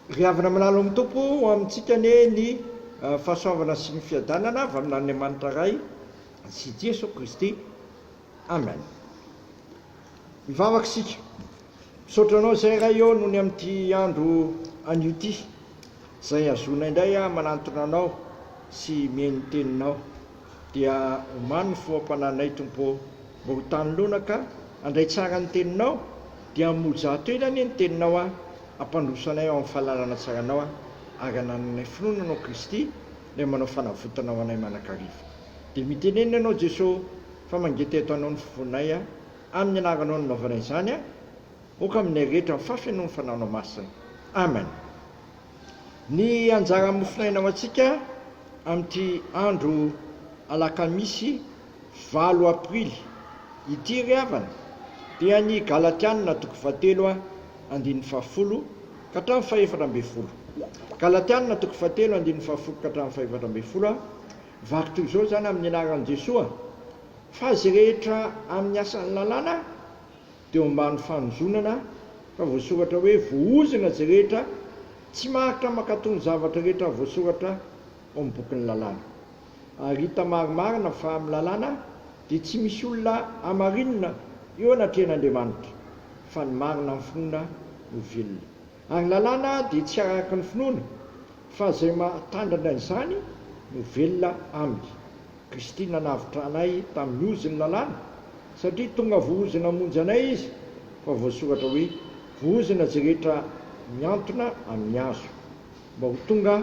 Ry havana milalo amin'ny Tompo, ho amintsika anie ny fahasoavana sy ny fiadanana avy amin'Andriamanitra Ray sy Jeso Kristy. Amen. Mivavaka isika. Misaotra Anao izay Ray ô nony amin'ity andro anio ity, izay ahazoana indray aho manantona Anao sy mihaino ny Teninao. Dia omano ny foham-panahinay Tompo ô! Mba ho tany lona ka handray tsara ny Teninao, dia hamoja ato ela anie ny Teninao aho, hampandroso anay ao amin'ny fahalalana tsaranao aho, ary hanananay finoana Anao Kristy, Ilay manao fanavotana ho anay manakariva. Dia mitenenina Ianao Jeso fa mangety eto Anao ny fonay a! Amin'ny Anaranao no nanaovana izany a! Oka aminay rehetra ny fahafenoan'ny Fanahinao Masina. Amen. Ny anjaran'ny mofonaina ho antsika amin'ity andro alakamisy valo aprily ity ry havana dia ny Galatiana toko fahatelo andininy fahafolo ka hatramin'ny fahefatra ambin'ny folo. Galatiana toko fahatelo andininy fahafolo ka hatramin'ny fahefatra ambin'ny folo, Vaky toy izao izany amin'ny anaran'i Jesoa fa izay rehetra amin'ny asan'ny lalàna Teo ambany fanozonana ka voasoratra hoe vohozona izay rehetra tsy maharitra mankato ny zavatra rehetra voasoratra ao amin'ny bokin'ny lalàna. Ary hita marimarina fa amin'ny lalàna dia tsy misy olona hamarinina eo anatrehan'Andriamanitra, fa ny marina amin'ny finoana no velona. Ary ny lalàna dia tsy araka ny finoana, fa izay mahatandrina izany no velona aminy. Christine navotranay tamin'ny ozon'ny lalàna satria tonga vohozona hamonjy anay izy fa voasoratra hoe vohozona izay rehetra mihantona amin'ny hazo. Mba ho tonga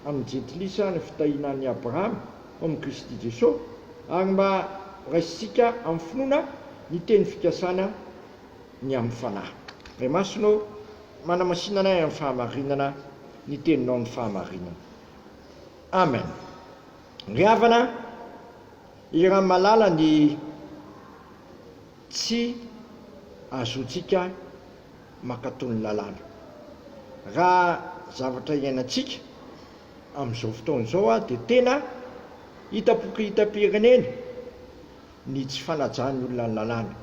amin'ny jentilisa ny fitahiana an'i Abrahama ao amin'i Kristy Jesosy ary mba raisintsika amin'ny finoana ny teny fikasana ny amin'ny fanahy. Ray Masina ô, manamasina anay amin'ny fahamarinana ny teninao ny fahamarinana. Amen. Ry havana, iran malala ny tsy azotsika makato ny lalàna. Raha zavatra iainantsika amin'izao fotoana izao dia tena hitapoky hitam-pirenena ny tsy fanajan'ny olona ny lalàna.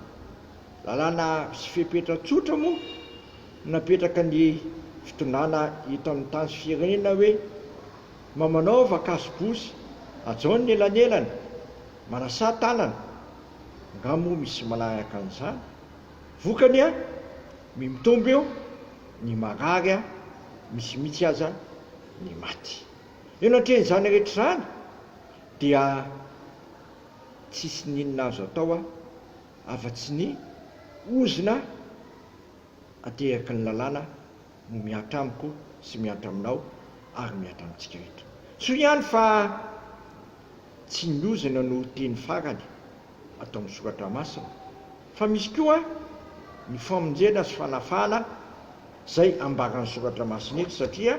Lalàna sy fepetra tsotra moa napetraka ny fitondrana eto amin'ny tany sy firenena hoe, Mba manaova kasobosy hajao ny elanelany, manasà tanana, nga moa misy manahaka an'izany? Vokany an! mi mitombo eo ny marary an! misy mihitsy aza ny maty. Eo anatrehan'izany rehetra izany dia tsisy n'inona azo atao an! afa-tsy ny ozona ateraky ny lalàna. no mihatra amiko sy mihatra aminao ary mihatra amintsika rehetra. Soa ihany fa tsy ny ozona no teny farany ato amin'ny soratra masina fa misy koa ny famonjena sy fanafahana izay ambaran'ny soratra masina eto satria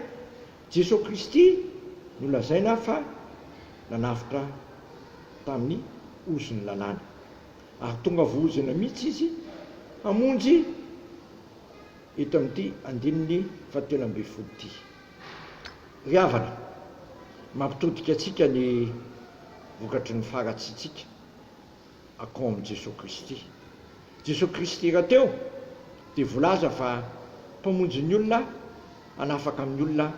Jesoa Kristy no lazaina fa nanavotra tamin'ny ozon'ny lalàna ary tonga voaozona mihitsy Izy hamonjy eto amin'ity andininy fahatelo ambin'ny folo ity. Ry havana, mampitodika antsika ny vokatry ny faharatsiantsika akao amin'i Jesoa Kristy. Jesoa Kristy rahateo dia volaza fa Mpamonjy ny olona hanafaka ny olona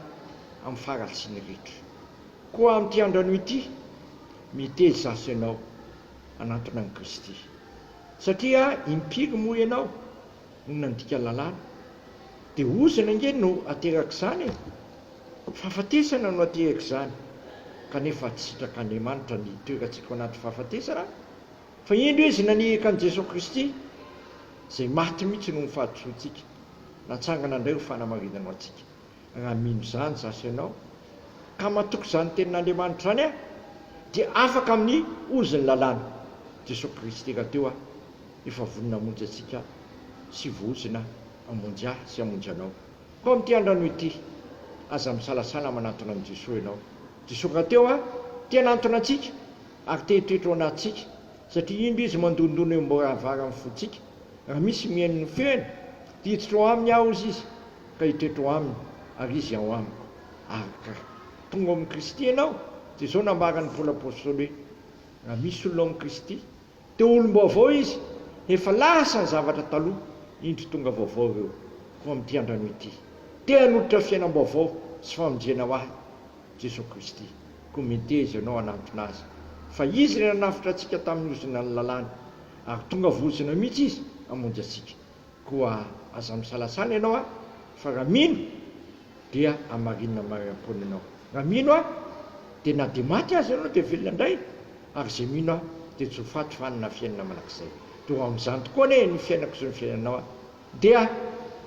amin'ny faharatsiany rehetra. Koa amin'ity andrano ity, miteza asa ianao hanantona an'i Kristy. Satria impiry moa ianao? no nandika lalàna. Dia ozona ange no aterak'izany e! Fahafatesana no aterak'izany, kanefa tsy sitrak'Andriamanitra ny hitoerantsika ao anaty fahafatesana, fa indro Izy nanihaka an'i Jesoa Kristy, izay maty mihitsy noho ny fahadisoantsika, natsangana indray ho fanamarinana ho antsika. Raha mino izany izaho sy ianao, ka matoky izany Tenin'Andriamanitra izany aho, dia afaka amin'ny ozon'ny lalàna, Jesoa Kristy rahateo aho. Efa vonona hamonjy antsika Aho, sy vohozona hamonjy Ahy sy hamonjy anao. Koa amin'ity androanio ity, aza misalasala manantona an'i Jesoa ianao. Jesoa rahateo a! te hanantona antsika ary te hitoetra ao anatintsika, satria indro Izy mandondona eo am-baravaran'ny fontsika, raha misy mihaino ny feony, dia hiditra ao aminy Aho, hozy Izy, ka hitoetra ao aminy, ary Izy ao amiko. Ark. Tonga ao amin'i Kristy ianao, Jesoa nambaran'i Paoly Apostoly hoe, Raha misy olona ao amin'i Kristy, Teo olom-baovao izy, efa lasa ny zavatra taloha, indro tonga vaovao ireo, koa amin'ity andran'io ity, te hanolotra fiainam-baovao sy famonjena ho ahy Jesoa Kristy, koa meteza ianao hanantona Azy, fa Izy ilay nanavotra antsika tamin'ny ozonan'ny lalàna, ary tonga vozona mihitsy Izy hamonjy antsika. Koa aza misalasala ianao a! Fa raha mino dia hamarinina mariam-poana ianao. Raha mino a! dia na dia maty aza ianao dia velona indray, ary izay mino a! dia tsy ho faty fa hanana fiainana mandrakizay. Dia ho amin'izany tokoa anie ny fiainako sy ny fiainanao a! Dia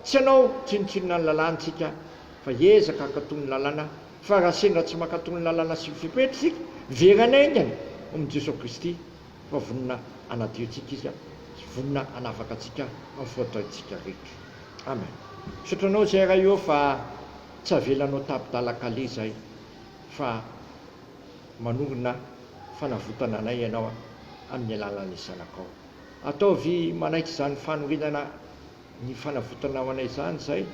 tsy hanao tsinontsinona ny lalàna isika fa hiezaka hankato ny lalàna, fa raha sendra tsy mankato ny lalàna sy ny fepetra isika, very any haingana, hono Jesoa Kristy. fa vonona hanadio antsika Izy a, sy vonona hanafaka antsika amin'ny faotraintsika rehetra. Amen. Misaotra Anao izay Ray ô fa tsy avelanao tapi-dalan-kaleha izahay fa manorina fanavotana anay Ianao amin'ny alalan'ny Zanakao. Ataovy manaiky izany fanorenana ny fanavotana ho anay izany izahay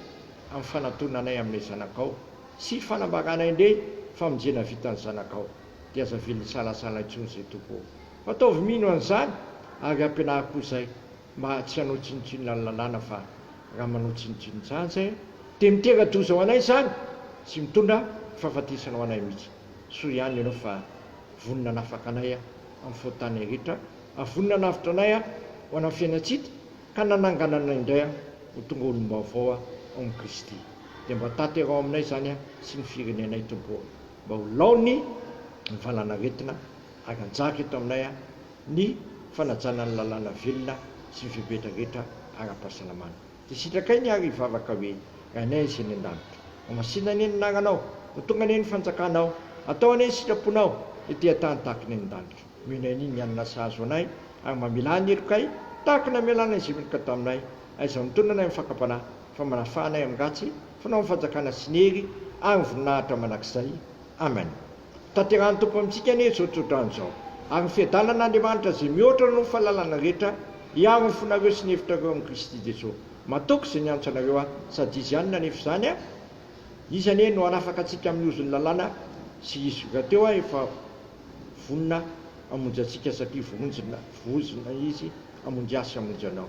amin'ny fanantonanay amin'ilay Zanakao sy fanambaranay indray famonjena vitan'ny Zanakao. dia aza avela hisalasala intsony zay Tompo ô! Ataovy mino an'izany ary ampianaro koa izay mba tsy hanao tsinontsinona ny lalàna fa raha manao tsinontsinon'izany zay dia mitera-doza ho anay izany sy mitondra fahafatesana ho anay mihitsy. Soa ihany Ianao fa vonona hanafaka anay amin'ny fahotanay rehetra ary vonona hanavotra anay ho anan'ny fiainantsita ka nanangana anay indray ho tonga olom-baovao ao amin'i Kristy. Dia mba tanteraho aminay izany sy ny firenenay Tompo ô! mba ho laoniny ny valanaretina ary hanjaka eto aminay ny fanajana ny lalàna velona sy ny fepetra rehetra ara-pahasalamana. Dia sitrakay ny ary hivavaka hoe, Rainay izay any an-danitra. Homasina anie ny anaranao. Ho tonga anie ny fanjakanao. Atao anie ny sitraponao ety an-tany tahaka ny any an-danitra. Omena anie ny hanina sahazo anay ary mamelà ny helokay tahaka ny amelànay izay meloka taminay. Aiza no mitonona anay amin'ny fakam-panahy fa manafà anay amin'ny ratsy? Fanao ny fanjakana sy ny hery ary ny voninahitra mandrakizay. Amen. Tanterahan'ny Tompo amintsika anie izao tsodrano izao. Ary ny fiadanan'Andriamanitra izay mihoatra noho ny fahalalana rehetra hiaro ny fonareo sy ny hevitrareo amin'i Kristy Jesoa. Matoky izay niantso anareo aho, sady Izy ihany nanefa izany an! Izy anie no hanafaka antsika amin'ny ozon'ny lalàna sy Izy rahateo aho efa vonona hamonjy antsika satria vohonjona, vohozona Izy hamonjy ahy sy hamonjy anao.